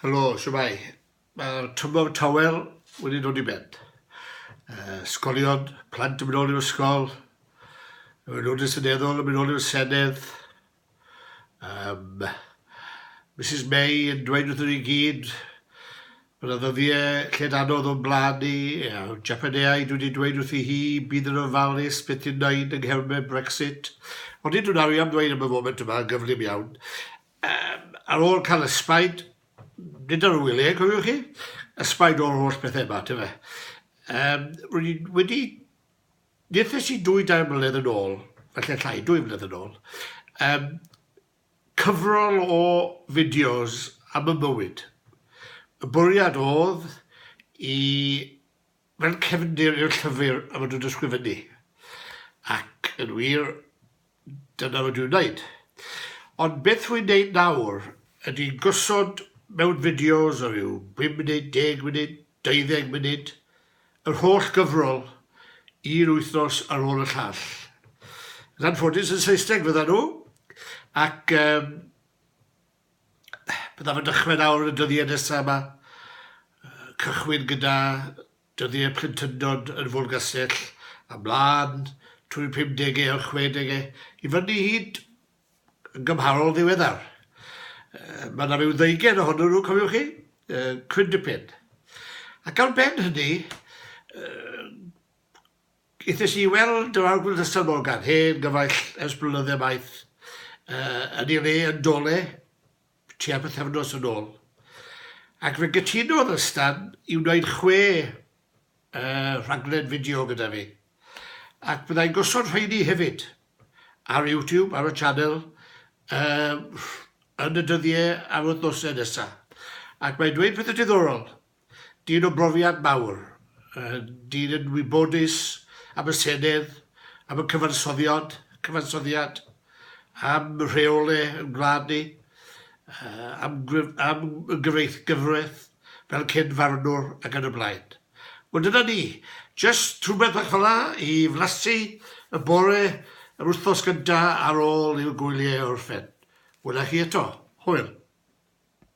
Helo, shwmae? Mae'r tymor tawel wedi dod i ben. Uh, sgolion, plant yn mynd ôl i'r ysgol, y mynd y seneddol yn mynd ôl i'r senedd. Um, Mrs May yn dweud wrth ni gyd bod yna ddyddiau lled anodd o'n blaen ni. Uh, Japaneau, dwi wedi dweud wrth i hi, bydd yn ofalus beth i'n wneud yng nghermau Brexit. Ond i dwi'n arian dweud am y foment yma, gyflym iawn. Yym, ar ôl cael ysbaid, nid ar wylie, cofiwch chi, ysbaid o'r holl bethau yma, te fe. Yym, rwy'n i wedi... Nid i dwy dair mlynedd yn ôl, felly llai, dwy flynedd yn ôl, um, cyfrol o fideos am y mywyd. Y bwriad oedd i Fel cefndir i'r llyfr y maen nhw'n ysgrifennu. Ac, yn wir, dyna rydw i'n wneud. Ond beth rwy'n wneud nawr ydy gosod mewn fideos o ryw bum munud, deg munud, deuddeg munud, yr holl gyfrol, un wythnos ar ôl y llall. Yn anffodus, yn Saesneg fyddan nhw, ac yym, Byddaf yn dechrau nawr yn y dyddiau nesaf yma. Cychwyn gyda dyddiau plentyndod yn Fôlgastell, a mlaen trwy'r pumdegau a'r chwedegau, i fyny hyd yn gymharol ddiweddar. Mae yna rhyw ddeugen ohonyn nhw, cofiwch chi? Cwyn dipyn. Ac ar ben hynny, Aethais i i weld yr Arglwyddyson Morgan, hen gyfaill ers blynydde maith, yn ei le yn Dole tua pythefnos yn ôl, ac fe gytunodd â Stan i wneud chwe rhaglen fideo gyda fi, ac byddai'n gosod rheiny hefyd ar YouTube, ar y sianel, yn y dyddiau a'r wythnosau nesaf, ac mae'n dweud pethau diddorol. Dyn o brofiad mawr, dyn yn wybodus am y Senedd, am y cyfansoddiad, cyfansoddiad, am rheolau yn gwlad ni, am am gyfreith gyfraith fel cyn farwnwr ac yn y blaen. Wel dyna ni, jyst rhywbeth bach fel'a i flasu y bore yr wythnos gynta ar ôl i'r gwyliau orffen. Wela chi eto. Hwyl.